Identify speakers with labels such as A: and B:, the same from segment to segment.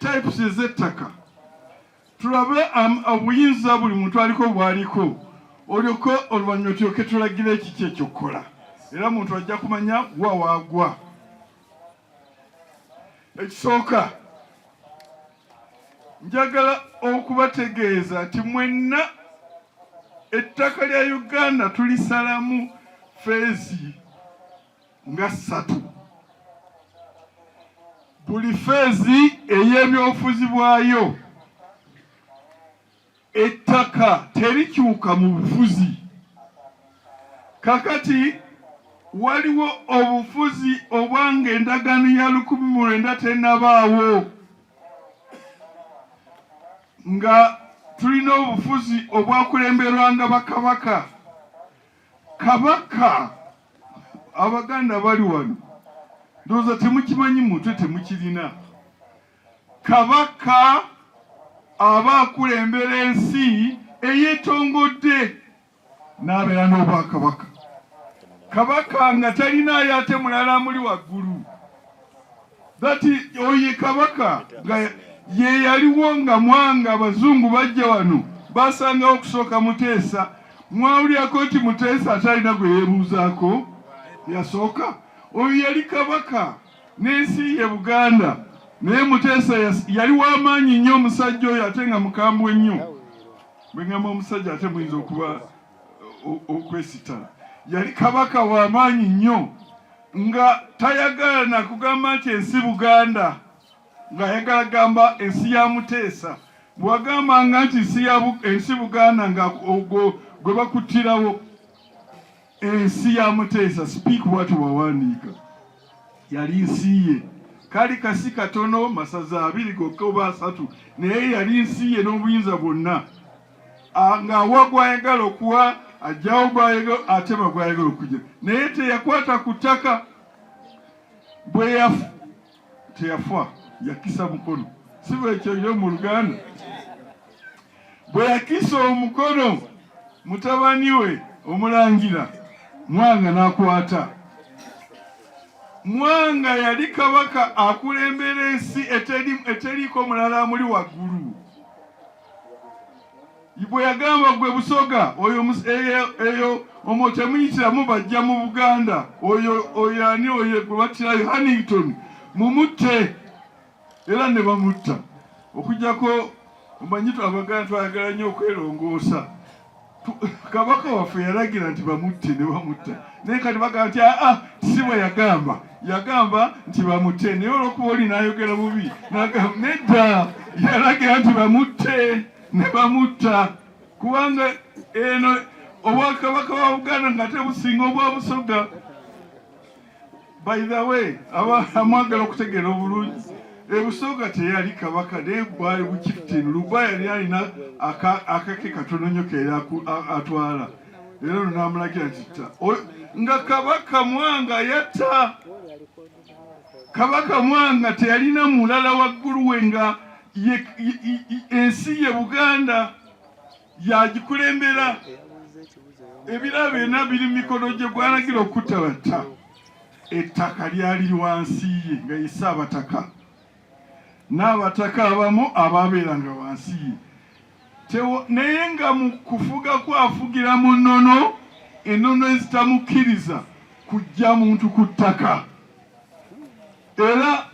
A: types ez'ettaka tulabe obuyinza buli muntu aliko bwaliko olyoko oluvannyuma tulyoke tulagira ekiki ekyokukola era muntu ajja kumanya wa waagwa ekisooka njagala okubategeeza nti mwenna ettaka lya uganda tulisalamu feezi nga ssatu buli feezi ey'ebyobufuzi bwayo ettaka terikyuka mu bufuzi kakati waliwo obufuzi obwanga endagaano ya lukumi mu lwenda tenabaawo nga tulina obufuzi obwakulemberwanga bakabaka kabaka abaganda bali wano ndowooza temukimanyi mutwe temukirina kabaka aba akulembera ensi eyetongodde n'abeera n'obwakabaka kabaka nga talina ate mulala muli waggulu That oye kabaka nga ye yaliwo nga mwanga abazungu bajja wano basangawo okusooka Muteesa. Mwawulyako nti Muteesa atalina gwe yebuuzaako yasooka. Oyo yali kabaka n'ensi ye Buganda, naye Muteesa yali w'amaanyi nnyo omusajja oyo ate nga mukambwe nnyo. Bwe ngamba omusajja ate muyinza okuba okwesitala yali kabaka w'amaanyi nnyo nga tayagala nakugamba nti ensi Buganda ng'ayagala gamba ensi ya Muteesa bwagambanga nti ensi Buganda nga ogwo gwe bakuttirawo ensi ya Muteesa speak what wawandiika yali nsi ye kali kasi katono masaza abiri gokka oba asatu naye yali nsi ye n'obuyinza bwonna ah, ng'awa gwayagala okuwa ajjawo gwayagala atema gwayagala okujja naye teyakwata ku ttaka bwe yafu teyafa yakisa mukono siba ekyo yo mu luganda bwe yakisa omukono mutabani we omulangira mwanga n'akwata mwanga yali kabaka akulembera ensi eteriiko mulala amuli waggulu bwe yagamba gwe busoga oyo eyo omo temuyitiramu bajja mu buganda oyo oyo ani oyo gwe batirayo hannington mumutte era ne bamutta okujjako omanyi twabaganda twayagala nnyo okwelongoosa kabaka waffe yalagira nti bamutte ne bamutta naye kati bagamba nti aa ah, ah, si bwe yagamba yagamba nti bamutte naye olwokuba oli nayogera bubi nedda yalagira nti bamutte ne bamutta kubanga eno obwakabaka wa buganda nga tebusinga obwa busoga By the way, amwagala okutegeera obulungi ebusooka teyali kabaka naye bwali bukiftin luba yali alina akake katono nyo keera atwala era luno namulagira nti ta nga kabaka mwanga yatta kabaka mwanga teyalina mulala wagguluwe nga ensi ye buganda yagikulembera ebirabo byonna biri mu mikono gye gwalagira okutta batta ettaka lyali wansi ye nga ye Ssaabataka n'abataka abamu abaabeeranga wansi ye naye nga mu kufuga kwafugira mu nnono ennono ezitamukkiriza kujja muntu ku ttaka Era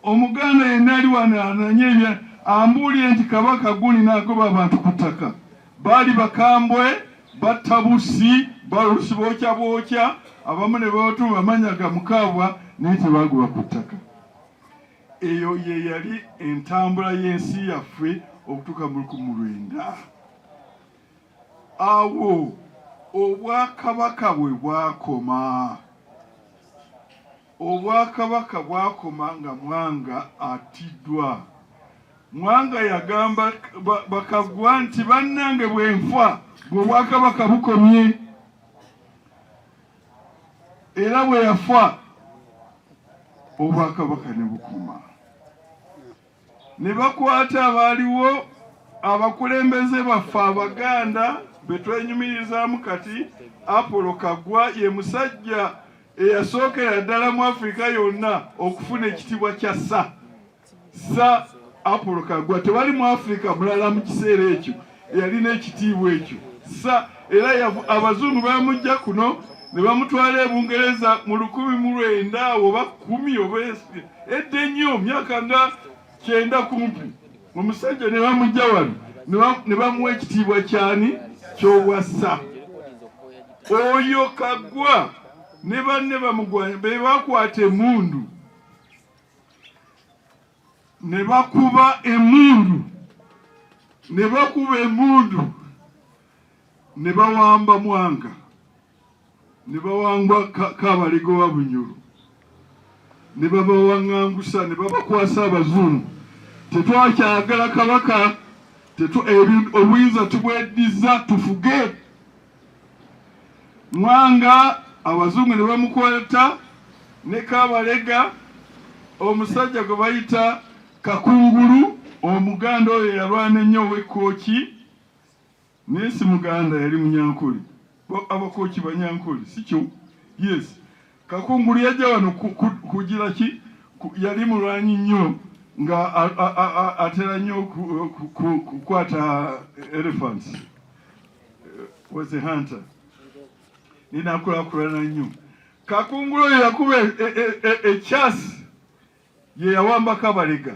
A: Omuganda yenna ali wano ananye ebya ambuulire nti Kabaka guni nagoba abantu ku ttaka baali bakambwe batta bussi balusi bookya bookya abamu ne babatuma amanya ga mukaabwa naye tebagoba ku ttaka. Eyo ye yali entambula y'ensi yaffe okutuuka mu lukumi lwenda. Awo obwakabaka bwe bwakoma. Obwakabaka bwakoma nga Mwanga atiddwa. Mwanga yagamba Bakaggwa nti bannange bwenfa ng'obwakabaka bukomye era bwe yafa obwakabaka ne bukoma. ne bakwata abaaliwo abakulembeze baffe abaganda betwenyumirizaamu kati apolo kagwa ye musajja eyasookera ddala mu afirika yonna okufuna ekitibwa kya sa sa apolo kagwa tewali mu afirika mulala mu kiseera ekyo yalina ekitiibwa ekyo sa era abazungu bamujja kuno ne bamutwala e bungereza mu lukumi mu lwenda awo oba kumi oba edda ennyo myaka nga kyenda kumpi omusajja ne bamujja wano ne bamuwa ekitiibwa kyani ky'obwassa oyo kagwa ne banne bamugwanya be bakwata emundu ne bakuba emundu ne bakuba emundu ne bawamba mwanga ne bawangwa kabalego wa bunyoro ne babawaŋŋangusa ne babakwasa abazungu tetwakyagala kabaka obuyinza tubweddiza tufuge Mwanga abazungu ne bamukwata ne Kabalega omusajja gwe bayita Kakungulu omuganda oyo yalwana ennyo ow'ekkooki naye si muganda yali munyankole abakooki banyankole sikyo yes Kakungulu yajja wano kugira ki? Yali mulwanyi nnyo nga atera nnyo kukwata elephants eh, was a hunter ninakulakulana nnyo kakungulu oyo yakuba ekyasi e, e, e, ye yawambako abalega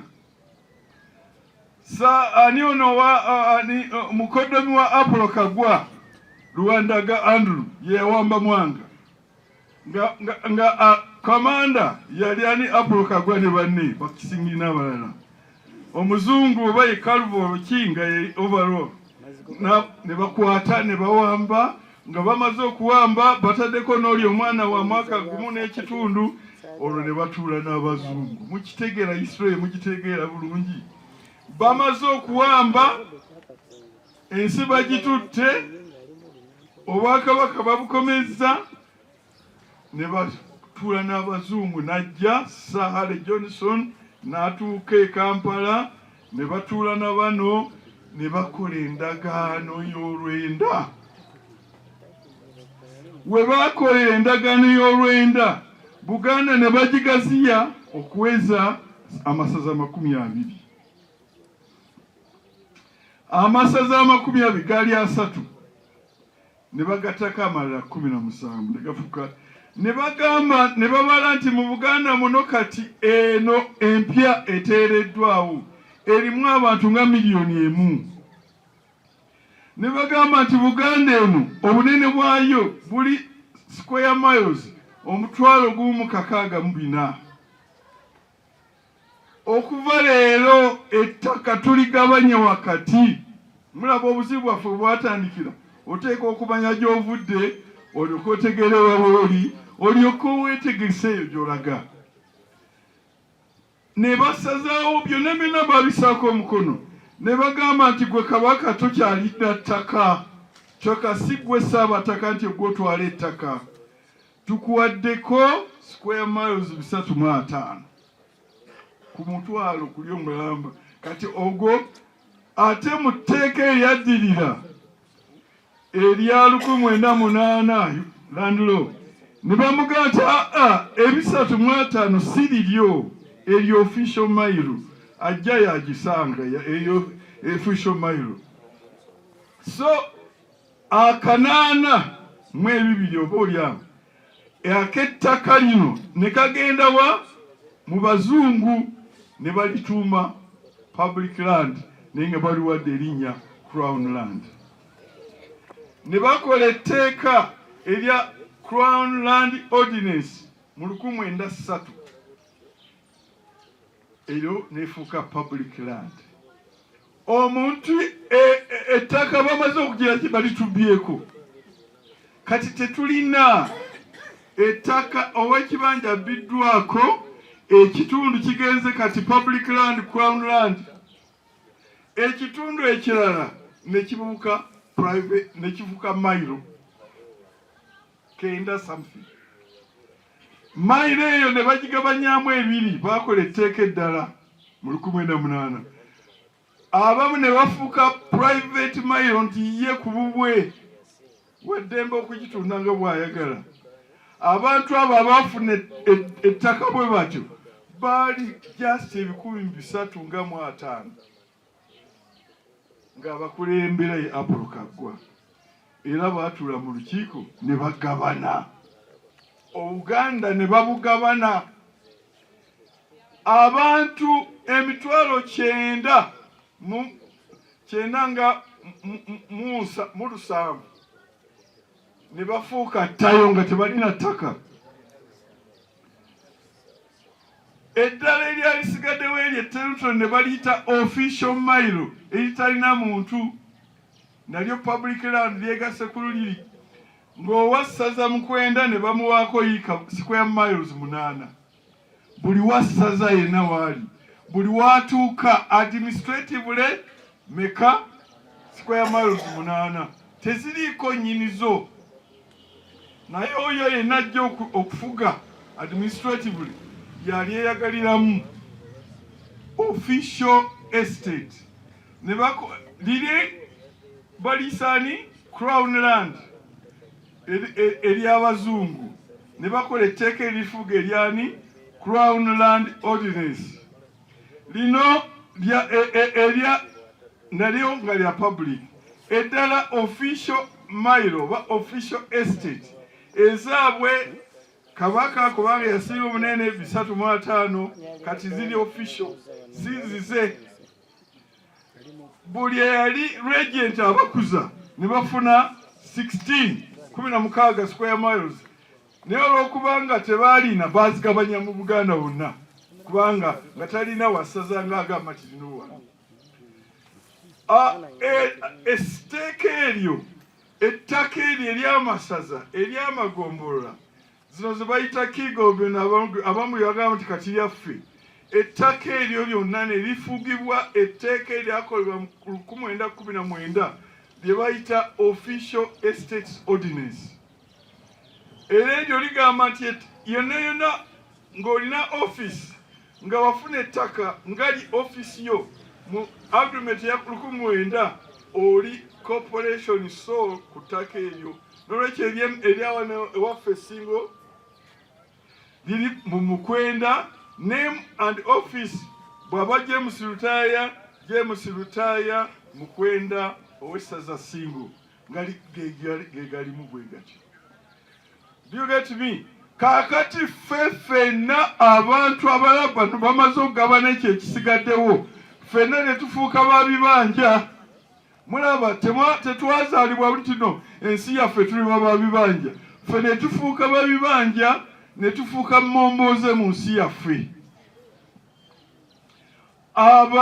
A: sa ani ono wa ani mukoddomi wa apolo kagwa luwandaga andrew ye yawamba mwanga nga nga nga a kamanda yali ani Apollo Kagwa ne banne bakisingi n'abalala omuzungu oba ye Calvor Kinga ye overall ne bakwata ne bawamba nga bamaze okuwamba bataddeko n'oli omwana wa mwaka gumu n'ekitundu olwo ne batuula n'abazungu mukitegeera Israel mugitegeera bulungi bamaze okuwamba ensi bagitutte obwakabaka babukomezza ne batuula n'abazungu n'ajja sahale johnson n'atuuka e kampala ne batuula na bano ne bakola endagaano y'olwenda we baakola endagaano y'olwenda buganda ne bagigaziya okuweza amasaza amakumi abiri amasaza amakumi abiri gaali asatu ne bagattako amalala kumi na musanvu ne gafuka ne bagamba ne babala nti mu buganda muno kati eno empya eteereddwawo erimu abantu nga miliyoni emu ne bagamba nti buganda eno obunene bwayo buli square miles omutwalo gumu kakaaga mu bina okuva leero ettaka tuligabanya wakati mulaba obuzibu bwaffe bwatandikira oteeka okumanya gyovudde olyoka otegere wawooli olyoka owetegese eyo gyolaga ne basazaawo byonna byonna babisaako omukono ne bagamba nti gwe kabaka tokyalidda ttaka kyoka si gwe saabataka nti ogwotwala ettaka tukuwaddeko square miles bisatu mu ataano ku mutwalo kuli omulamba kati ogwo ate mu tteeka eryaddirira erya lukumi mwenda munaana landulo ne bamugaa nti aa ah, ah, ebisatu mu ataano si liryo eryo ofisho mailo ajja yagisanga eyo efisho mailo so akanaana mu ebibiri oba olyawo ak'ettaka lino ne kagenda wa mu bazungu ne balituuma public land naye nga baliwadde erinnya crown land ne bakola etteeka erya crown land ordinance mu lukumu enda ssatu eryo nefuuka public land omuntu e, e, ettaka bamaze okugira nti balitubyeko kati tetulina ettaka owekibanja abbiddwako ekitundu kigenze kati public land crown land ekitundu ekirala nekibuuka private nekifuka mailo kenda something Mayiro eyo ne bagigabanyaamu ebiri, baakola etteeka eddala mu lukumi mwenda munaana abamu ne bafuuka private mayiro nti ye ku bubwe weddembe okugitunda nga bw'ayagala. Abantu abo abaafuna e, e, ettaka bwe batyo baali just ebikumi bisatu nga mu ataano. ng'abakulembera ye Apolo Kaggwa era baatula mu lukiiko ne bagabana Obuganda ne babugabana abantu emitwalo kyenda mu kyenda nga mu lusanvu ne bafuuka ttayo nga tebalina ttaka. eddala eryalisigaddewo eryo etteruto ne baliyita official mile eritalina muntu nalyo public land lyegase ku luliri ng'owa ssaza mukwenda ne bamuwaako yiika square miles munaana buli wa ssaza yenna waali buli watuuka administratively meka square miles munaana teziriiko nyinizo naye oyo yenna ajja okufuga administratively yali eyagaliramu official estate ne liri balisaani crown land ery'abazungu e, ne bakola etteeka erifuga eryani crown land ordinance lino lya e, e, elya nalyo nga lya public eddala official mile oba official estate ezaabwe kabaka kubanga yasinga obunene bisatu mu ataano kati ziri official zizize buli eyali regent abakuza ne bafuna 16 kumi na mukaaga square miles naye olwokubanga tebaalina baazigabanya mu buganda wonna kubanga nga talina wasaza nga agamba kirina owano esiteeka e, eryo ettaka eryo eryamasaza eryamagombolola zino zebayita kigobyona abamu yagamba nti kati lyaffe ettaka eryo lyonna ne lifugibwa etteeka eryakolebwa mu lukumwenda kumi na mwenda lye bayita official estates ordinance era eryo ligamba nti yonna yonna ng'olina ofiisi nga wafuna ettaka ngali ofiisi yo mu agreement ya lukumi mwenda oli corporation so ku ttaka eryo nolwekyo eryawa ewaffe singo liri mu mukwenda name and office bwaba James Lutaaya James Lutaaya mukwenda owessaza singo gegalimu bwe gatyo byogetimi kaakati ffe ffenna abantu abalala bano bamaze okugabana ekyo ekisigaddewo ffenna ne tufuuka ba bibanja mulaba tetwazaalibwa buli kino ensi yaffe tuliba ba bibanja ffe ne tufuuka ba bibanja ne tufuuka mmombooze mu nsi yaffe aba